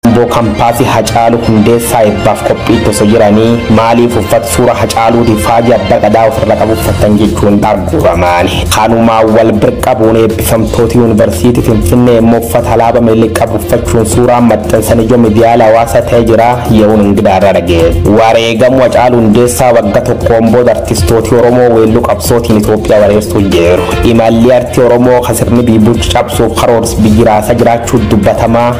Amboo Kampaasi Hacaalu Hundeessaa eebbaaf qophiitti osoo jiranii maaliif uffata suura Hacaaluuti faajii abbaa gadaa ofirra qabu uffattan jechuun arguuramaan. Kanumaa wal bir qabuun eebbifamtooti yuunivarsiitii Finfinnee immoo uffata alaaba Minilik qabu uffachuun suuraa maxxansan ijoo miidiyaala hawaasaa ta'ee jira yeroon ingidaa irra dhagee. Wareegamu Hacaalu Hundeessaa wagga tokkoon booda artistooti Oromoo weelluu qabsootiin Itoophiyaa wareersuu jiru. Imalli artii Oromoo kasirni biibuuchi cabsuuf karoors biyyi raasaa jiraachuu dubbatamaa.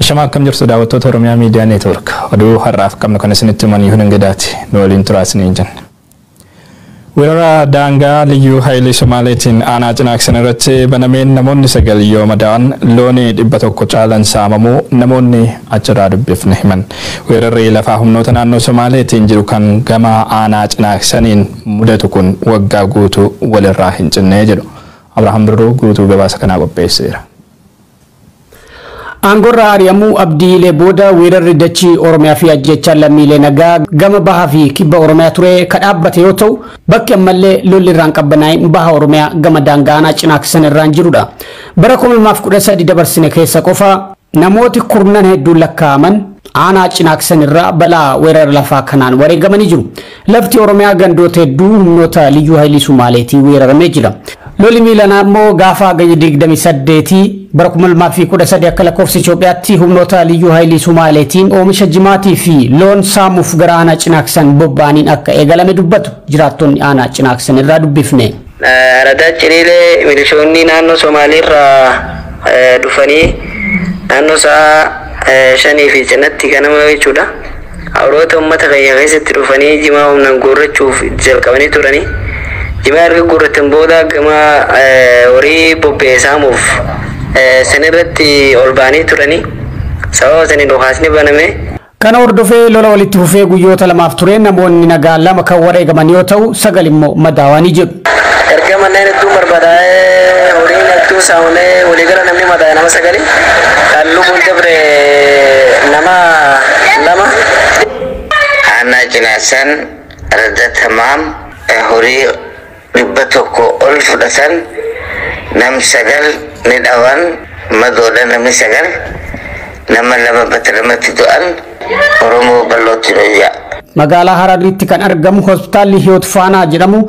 Shama akkam jirtu daawwattoota Oromiyaa Miidiyaa Neetwoork. Oduu har'aaf qabnu kan isinitti himan Yihuun Ingidaati. Nu waliin turaa isiniin jenna. Weerara daangaa Liyyuu Hayilii Somaaleetiin aanaa Cinaaksan irratti banameen namoonni 9 yoo madaa'an, looni 100 caalan saamamuu namoonni achirraa dubbifne himan. Weerarri lafaa humnoota naannoo Somaaleetiin jiru kan gama aanaa Cinaaksaniin mudatu kun waggaa guutuu walirraa hin cinne jedhu. Abrahaam Birruu guutuu gabaasa kanaa qopheesseera. Aangorraa ari'amuu Abdii Ilee booda weerarri dachii Oromiyaa fi ajjeechaan lammiilee nagaa gama baha fi kibba Oromiyaa ture ka dhaabbate yoo ta'u, bakki ammallee lolli irraa hin qabbanaa'in baha Oromiyaa gama daangaa aanaa Cinaaksan irraan jiru dha. Bara 2013 dabarsine keessa qofa namooti kurnan hedduun lakkaa'aman aanaa Cinaaksan irraa balaa weerara lafaa kanaan wareegamanii jiru. Lafti Oromiyaa gandoota hedduu humnoota Liyyuu Hayilii Sumaaleetiin weeraramee jira. Loli miilanaa immoo gaafa Hagayya 28 bara 2013 akka lakkoofsa Itoophiyaatti humnoota Liyyuu Hayilii Sumaaleetiin oomisha jimaatii fi loon saamuuf gara aanaa Cinaaksan bobba'aniin akka eegalame dubbatu jiraattonni aanaa Cinaaksan irraa dubbifne. Aradaa Ciliilee milishoonni naannoo Somaaleerraa dhufanii naannoo sa'a shanii fi cinatti ganama jechuudha. Awroota uummata keenya keessatti dhufanii jimaa humnaan guurrachuuf itti jalqabanii turanii. Jimaa erga guurratan booda gama horii bobba'e saamuuf sanirratti ol ba'anii turanii. Sababa saniin dhukaasni baname. Kana hordofee lola walitti fufee guyyoota lamaaf tureen namoonni nagaa lama kan wareegaman yoo ta'u, sagal immoo madaawaanii jiru. Erga manneen hedduun barbadaa'ee horiin hedduun saamamee waliigala namni madaa'e nama sagali kan lubbuun dabre nama lama. Aanaa Cinaasaan Radda Tamaam horii 100 ol fudhatan nam 9 ni dhawan madoodha namni 9 nama 2 batalumatti du'an Oromoo ballootti dhoyyaa. Magaalaa Hararriitti kan argamu Hospitaalli Hiyoot Faanaa jedhamu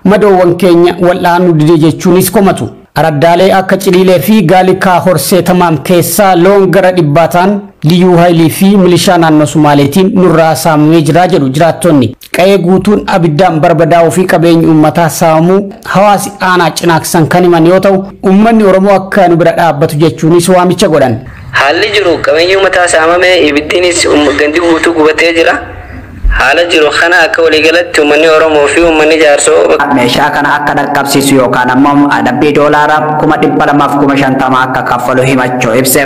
madoowwan keenya wal'aanuu dide jechuunis komatu. Araddaalee akka Ciliilee fi Gaalikaa Horsee Tamaam keessaa loon gara dhibbaa ta'an Liyyuu Hayilii fi milishaa naannoo Sumaaleetiin nurraa saamamee jira jedhu jiraattonni. Qa'ee guutuun abiddaan barbadaa'uu fi qabeenyi uummataa saamamuu hawaasi aanaa Cinaaksan kan himan yoo ta'u, uummanni Oromoo akka nu bira dhaabbatu jechuunis waamicha godhan. Haalli jiru qabeenyi uummataa saamamee ibiddiinis gandi guutuu gubatee jira. Haala jiru kana akka waliigalatti uummanni Oromoo fi uummanni Jaarsoo bakka. meeshaa kana akka dhaqqabsiisu yookaan ammoo adabbii doolaara kuma 200 fi kuma 50 akka kaffalu himachuu ibse.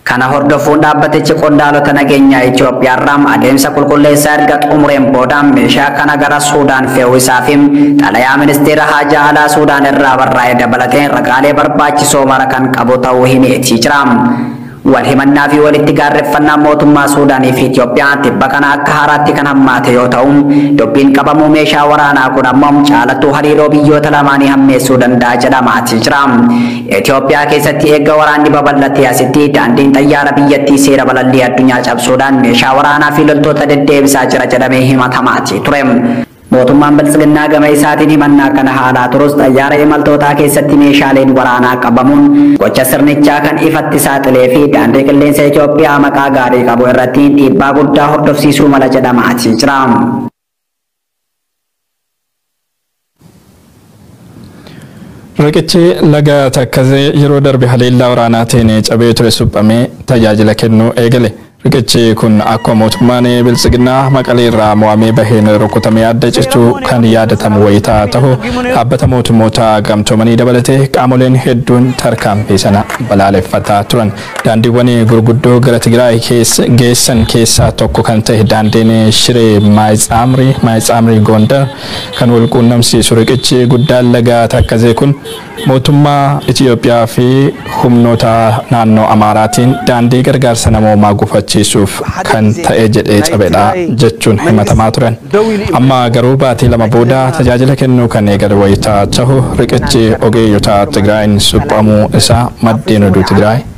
Kana hordofuun dhaabbatichi qondaalota nageenyaa Itoophiyaarraa adeemsa qulqulleessaa erga xumureen booda meeshaa kana gara Suudaan fe'uu isaa fi xalayaa Ministeera Haajaa Alaa Suudaan irraa barraa'e dabalatee ragaalee barbaachisoo mara kan qabu ta'uu himeetii jira. Wal himannaa fi walitti gaarreffannaan mootummaa Suudaanii fi Itoophiyaa tibba kana akka haaraatti kan hammaate yoo ta'u, dubbiin qabamuu meeshaa waraanaa kun ammoo caalattuu hariiroo biyyoota lamaanii hammeessuu danda'a jedhamaatii jira. Itoophiyaa keessatti eegga waraanni babal'atee asitti daandiin xayyaara biyyattii seera balallii addunyaa cabsuudhaan meeshaa waraanaa fi loltoota deddeebisaa jira jedhamee himatamaatii ture. Mootummaan Biltsiginnaa gama isaatiin himannaa kana haalaa turus xayyaara imaltootaa keessatti meeshaaleen waraanaa qabamuun gocha sirnichaa kan ifatti saaxilee fi Daandii Qilleensa Itoophiyaa maqaa gaarii qabu irratti dhiibbaa guddaa hordofsiisuu mala jedhamaatii jira. Riqichi laga Takkazee yeroo darbe haleellaa waraanaatiin cabee ture suphamee tajaajila kennuu eegale. Riqichi kun akkuma mootummaan Biltsiginnaa Maqalee irraa mo'amee baheen rukutamee adda cichuu kan yaadatamu wayita tahu, Dhaabbata Mootummoota Gamtoomanii dabalatee qaamoleen hedduun tarkaanfii sana balaaleffataa turan. Daandiiwwan gurguddoo gara Tigraay geessan keessaa tokko kan tahe daandiin Shiree Maayitsaamrii, Maayitsaamrii Goondar, kan wal quunnamsiisu riqichi guddaan laga Takkazee kun mootummaa Itiyoophiyaa fi humnoota naannoo Amaaraatiin daandii gargaarsa namoomaa gufachiisuuf kan ta'e jedhee cabedha jechuun himatamaa turan. Amma garuu baatii lama booda tajaajila kennuu kan eegale wayita tahu riqichi ogeeyyota Tigraayin suphamuu isaa maddeen oduu Tigraay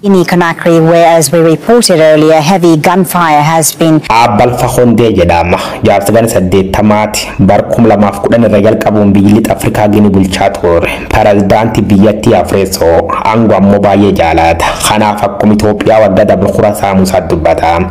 In Conakry, where as we reported earlier, heavy gunfire has been. A. Balfa Kondee jedhaama. Jaarsa gana 80ti. Bar 2010 irra jalqabuun biyyi Lixa Afrikaa Gini bulchaa tuurre. Perazdaanti biyyattii afreessoo. Ango ammoo baay'ee jaalaata. Kanaaf akkuma Itoophiyaa wagga dabre kura saamuusaat dubbata.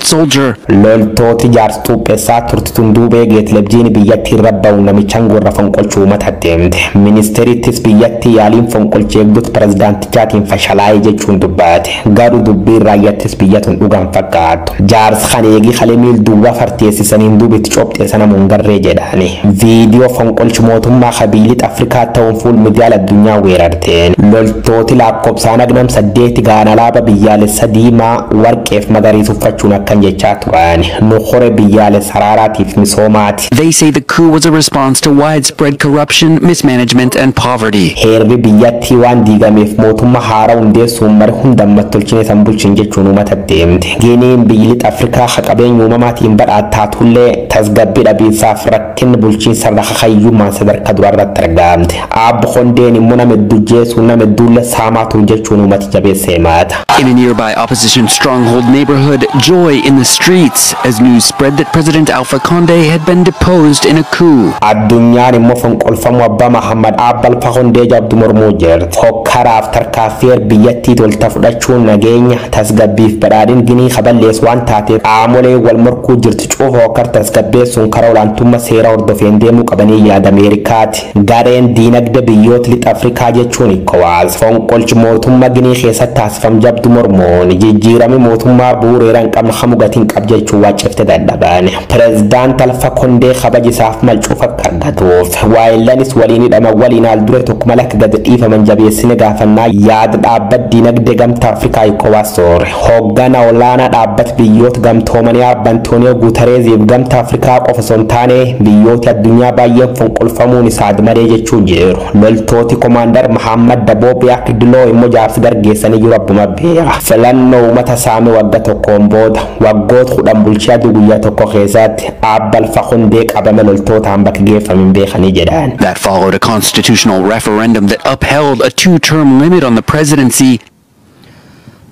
soldier. Loltooti jaarsa xuuphessaa turti tun duubee Geetlebjiini biyyatti irra bawuun namichan gorra fonqolchu uumata deemte. Ministeerittis biyyatti yaaliin fonqolchi eegdota pirezidaantichaatiin fashalaaye jechuun dubbate. Garu dubbiin raayyattis biyya tun dhuga hin fakkaattu. Jaarsa kana eegi kale miil duwwa farteessisaniin duuba itti cophxee sanamu hin garree jedhaani. Viidiyoo fonqolchi mootummaa ka biyyi lixa Afrikaa tahuun fuul midiyaal addunyaa weerarte. Teen. Loltooti laakkobsaan agnam 8 gahan alaaba biyyaalessa diimaa, warqeef magariis uffachuun akkan jechaa turan, Nu kore biyyaalessa araaraatiif misoomaati. They say the coup was a response to widespread corruption, mismanagement and poverty. Heerri biyyattii waan diigameef mootumma haara hundeessuun mari hunda ammas tolchine isan bulchin jechuun uumatatti himte. Giiniin biyyi lixa Afrikaa ka qabeenya uumamaatiin badhaat taatullee tasgabbi dhabiinsaaf rakkinni bulchiinsarra kakayyummaan sadarka duraarratti argamte. Aab Kondeen immoo nama hedduu ajjeesuun nama hedduullee saamaa ture jechuun uummati jabeessee himata. In a nearby opposition stronghold neighborhood, joy in the streets as news spread that President Alpha Conde had been deposed in a coup. Addunyaan immoo fonqolfamuu abbaa Mahaammad Aab Alpha Kondee jabdu mormuu jirti. Hokkaraaf tarkaaffii heer biyyattii tolta fudhachuun nageenya, tasgabbiif badhaadhin Ginii ka balleessu waan taateef qaamoleen wal morkuu jirtu cufa hokkar tasgabbeessuun karaa olaantumma seeraa hordofeen deemuu qabanii yaada Ameerikaati. Gareen diinagde biyyoot Lixa Afrikaa jechuun Ecowas fonqolch mootumma Ginii keessat taasifam jabdu mormuun jijjiirami mootummaa buureera hin qabn kamu gati hin qab jechuun waccifte dadhaban. Prezidaant Alfa Kondee kabaj isaaf mal cuuf akk argatuuf waayillanist waliin hidhaman waliin haal dure tokko mal akk gad dhiifaman jabeessine gaafannaa yaad dhaabbat diinagde Gamta Afrikaa Ecowas Sor. Hooggana olaanaa dhaabbat biyyoot gamtoomanii Aab Antooniyoo Guutareeziif gamta Afrikaa qofa osoo hin taane biyyooti addunyaa baayyeen fonqolfamuun isa admadee jechuun jiiru. Loltooti Komaandar Mahaammad Daboo Biyaak Diloo immo jaarsa dargeessanii jiru abbuma beera. Filannoo uumata saame wagga tokkoon booda, waggoot kudhan bulchee aduu guyyaa tokko keessaatti Aab balfa hundee qabame loltootaan bakki geeffame hin beekanii jedhaan. That followed a constitutional referendum that upheld a two-term limit on the presidency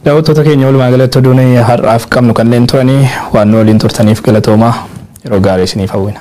Daawwattoota keenya walumaa galatti oduun har'aaf qabnu kanneen turanii waan nu waliin turtaniif galatoomaa yeroo gaarii isiniif hawwina.